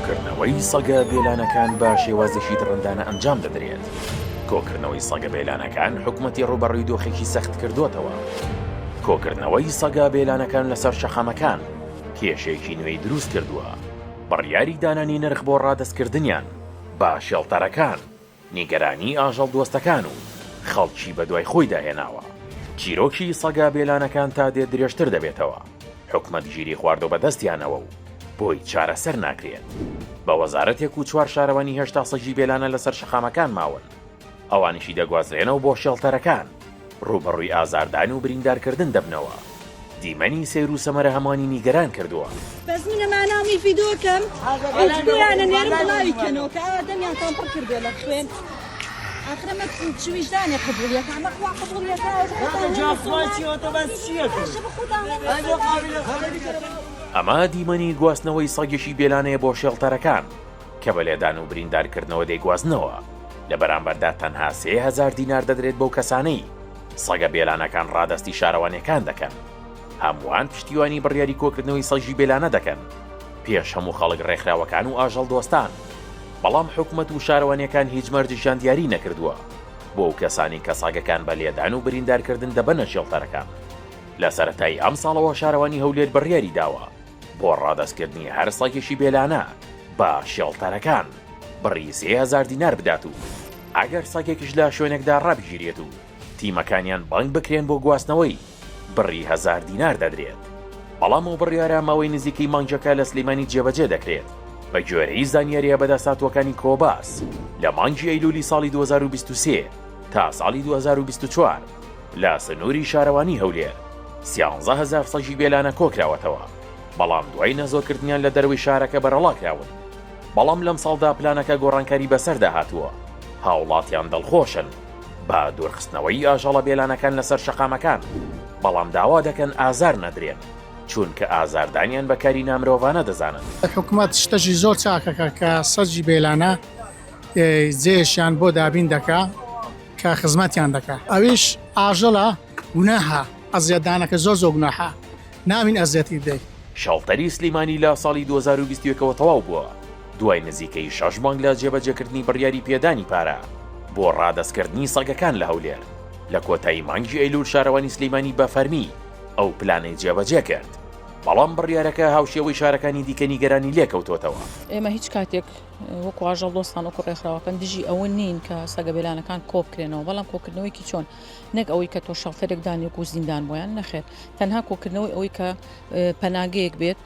کۆکردنەوەی سەگە بێلانەکان بە شێوازێکی دڕندانە ئەنجام دەدرێت. کۆکردنەوەی سەگە بێلانەکان حکوومەتی ڕوبەڕووی دۆخێکی سەخت کردوتەوە. کۆکردنەوەی سەگا بێلانەکان لەسەر شەقامەکان کێشێکی نوێی دروست کردووە. بڕیاری دانانی نرخ بۆ ڕادەستکردنیان بە شێڵتەرەکان. نیگەرانی ئاژەڵ دۆستەکان و خەڵکی بەدوای خۆیدا هێناوە، چیرۆکی سەگە بێلانەکان تا دێت درێژتر دەبێتەوە، حکومەت گیری خواردوە بەدەستیانەوە و بۆی چارەسەر ناکرێت، بە وەزارەتێک و چوار شارەوانی هێشتا سەگی بێلانە لەسەر شەقامەکان ماون، ئەوانیشی دەگوازرێنەوە بۆ شێڵتەرەکان ڕووبەڕووی ئازاردان و بریندارکردن دەبنەوە، دیمەنی سەیر و سەمەرە هەموانی نیگەران کردووە. بەس منە مانامی ڤیدۆ کەم هیچ بۆیانە نێرم بڵاوی کەنەوە کە ئاوا دەمیان تان پڕ کردوە لە خوێن آخر ئەمە چ ویژدانێ قبوڵیەکە ئەمە خوا قبوڵیەکە ئەمە دیمەنی گواستنەوەی سەگێکی بێلانەیە بۆ شێڵتەرەکان کە بە لێدان و بریندارکردنەوە دەیگوازنەوە، لە بەرامبەردا تەنها سێ هەزار دینار دەدرێت بەو کەسانەی سەگە بێلانەکان ڕادەستی شارەوانیەکان دەکەن، هەمووان پشتیوانی بڕیاری کۆکردنەوەی سەگی بێلانە دەکەن پێش هەموو خەڵک ڕێکخراوەکان و ئاژەڵ دۆستان، بەڵام حکومەت و شارەوانیەکان هیچ مەرجێکیان دیاری نەکردووە بۆ ئەو کەسانەی کە سەگەکان بە لێدان و بریندارکردن دەبەنە شێڵتەرەکان. لە سەرەتای ئەمساڵەوە شارەوانی هەولێر بڕیاری داوە، بۆ ڕادەستکردنی هەر سەگێکی بێلانە بە شێڵتەرەکان بڕی سێ هەزار دینار بدات و ئەگەر سەگێکیش لە شوێنێکدا ڕابگیرێت و تیمەکانیان بانگ بکرێن بۆ گواستنەوەی بڕی هەزار دینار دەدرێت بەڵام ئەو بڕیارە ماوەی نزیکەی مانگێکە لە سلیمانی جێبەجێ دەکرێت بە گوێرەی زانیارییە بەدەستهاتووەکانی کۆباس لە مانگی ئەیلولی ساڵی 2023 تا ساڵی 2024 لە سنووری شارەوانی هەولێر سیانزە هەزار سەگی بێلانە کۆکراوەتەوە، بەڵام دوای نەزۆکردنیان لە دەرەوەی شارەکە بەرەڵاکراون، بەڵام لەمساڵدا پلانەکە گۆڕانکاری بەسەردا هاتووە، هاوڵاتیان دڵخۆشن بە دوورخستنەوەی ئاژەڵە بێلانەکان لەسەر شەقامەکان، بەڵام داوا دەکەن ئازار نەدرێن، چونکە ئازاردانیان بە کاری نامرۆڤانە دەزانن. حکومەت شتەکی زۆر چاکەکە کە سەگی بێلانە جێیشیان بۆ دابین دەکا. کە خزمەتیان دەکا ئەویش ئاژەڵە گوناهە ئەزیەتدانەکە زۆر زۆر گوناحە ناوین ئەزیەتی بدەی. شەڵتەری سلیمانی لە ساڵی دوو هەزار و بیست و یەک ەوە تەواو بووە، دوای نزیکەی شەش مانگ لە جێبەجێکردنی بڕیاری پێدانی پارە بۆ ڕادەستکردنی سەگەکان لە هەولێر، لە کۆتایی مانگی ئەیلوول شارەوانی سلیمانی بە فەرمی ئەو پلانەی جێبەجێ کرد، بەڵام بڕیارەکە هاوشێوەی شارەکانی دیکە نیگەرانی لێکەوتۆتەوە. ئێمە هیچ کاتێک وەکو ئاژەڵ دۆستان وەکو ڕێکخراوەکان دژی ئەوە نین کە سەگە بێلانەکان کۆبکرێنەوە بەڵام کۆکردنەوەیکی چۆن نەک ئەوەی کە تۆ شەڵتەرێک دانێک و زیندان بۆیان نەخێت تەنها کۆکردنەوەی ئەوەی کە پەناگەیەک بێت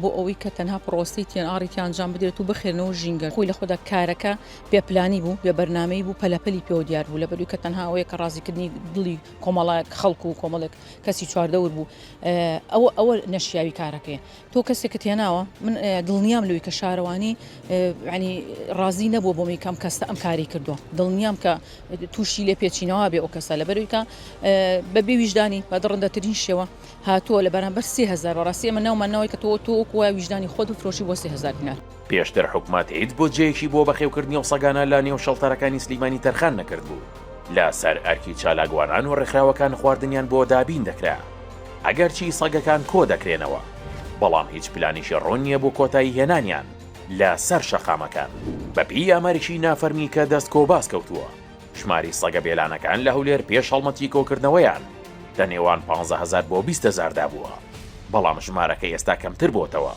بۆ ئەوەی کە تەنها پرۆستی تیان ئاڕیتی ئەنجام بدرێت و بخێنەوە ژینگە خۆی لە خۆدا کارەکە پێپلانی بوو بێ بەرنمەی بوو پەلەپەلی پێوە دیار بوو لە بەروی کە تەنها ئەوەیە کە ڕازیکردنی دڵی کۆمەڵایەک خەڵکو و کۆمەڵێک کەسی چواردەور بوو ئەوە ئەوە نەشیاوی کارەکەی تۆ کەسێکت هێناوە من دڵنیام لەوی کە شارەوانی ینی ڕازی نەبوو بۆمی کەم کەستە ئەم کاری کردووە دڵنیام کە تووشی لێ پێچینەوە بێ ئەو کەسە لە بەرویکە بە بێویژدانی بە دڕندەترین شێوە هاتووە لە بەرامبەر سهزار بەڕاستی ئەمە ناومانەوەی کە تۆ تۆ کوە ویژدانی خۆت و فرۆشی بۆ سهزار دینار. پێشتر حکومەت هیچ بودجەیەکی بۆ بەخێوکردنی ئەو سەگانە لە نێو شەڵتەرەکانی سلیمانی تەرخان نەکردبوو، لە سەر ئەرکی چالاکوانان و ڕێکخراوەکان خواردنیان بۆ دابین دەکرا، ئەگەرچی سەگەکان کۆ دەکرێنەوە، بەڵام هیچ پلانیشی ڕوون نییە بۆ کۆتایی هێنانیان لە سەر شەقامەکان. بە پێی ئامارێکی نافەرمی کە دەست کۆباس کەوتووە، ژماری سەگە بێلانەکان لە هەولێر پێش هەڵمەتی کۆکردنەوەیان لە نێوان پانزە هەزار بۆ بیست هەزاردا بووە، بەڵام ژمارەکە ئێستا کەمتر بۆتەوە.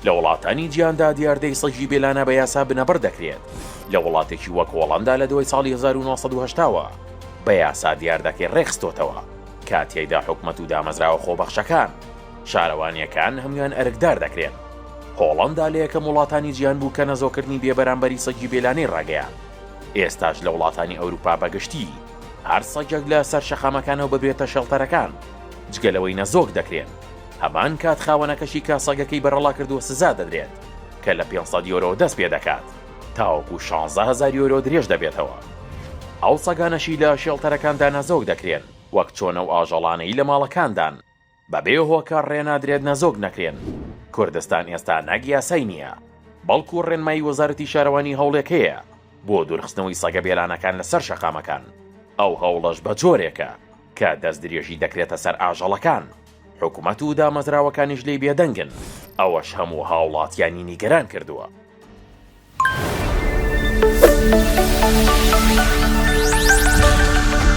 لە وڵاتانی جیهاندا دیاردەی سەگی بێلانە بە یاسا بنەبڕ دەکرێت، لە وڵاتێکی وەک هۆڵەندا لە دوای ساڵی هەزار و نۆ سەد و هەشتا وە بە یاسا دیاردەکەی ڕێکخستۆتەوە کە تیایدا حکومەت و دامەزراوە خۆبەخشەکان، شارەوانیەکان هەموان ئەرکدار دەکرێن. هۆڵەندا لە یەکەم وڵاتانی جیهان بوو کە نەزۆکردنی بێبەرامبەری سەگی بێلانەی ڕاگەیاند. ئێستاش لە وڵاتانی ئەوروپا بە گشتی هەر سەگێک لە سەر شەقامەکانەوە ببێتە شێڵتەرەکان جگە لەوەی نەزۆک دەکرێن هەمان کات خاوەنەکەشی کە سەگەکەی بەرەڵا کردووە سزا دەدرێت کە لە 500 یۆرۆ دەست پێ دەکات تاوەکو 16 هزار یۆرۆ درێژ دەبێتەوە ئەو سەگانەشی لە شێڵتەرەکاندا نەزۆک دەکرێن وەک چۆنە و ئاژەڵانەی لە ماڵەکاندان بە بێ هۆکار ڕێنادرێت نەزۆک نەکرێن. کوردستان ئێستا نەک یاسای نییە، بەڵکو ڕێنمایی وەزارەتی شارەوانی هەوڵێک هەیە بۆ دوورخستنەوەی سەگە بێلانەکان لەسەر شەقامەکان، ئەو هەوڵەش بە جۆرێکە کە دەستدرێژی دەکرێتە سەر ئاژەڵەکان، حکومەت و دامەزراوەکانیش لێی بێدەنگن، ئەوەش هەموو هاوڵاتیانی نیگەران کردووە.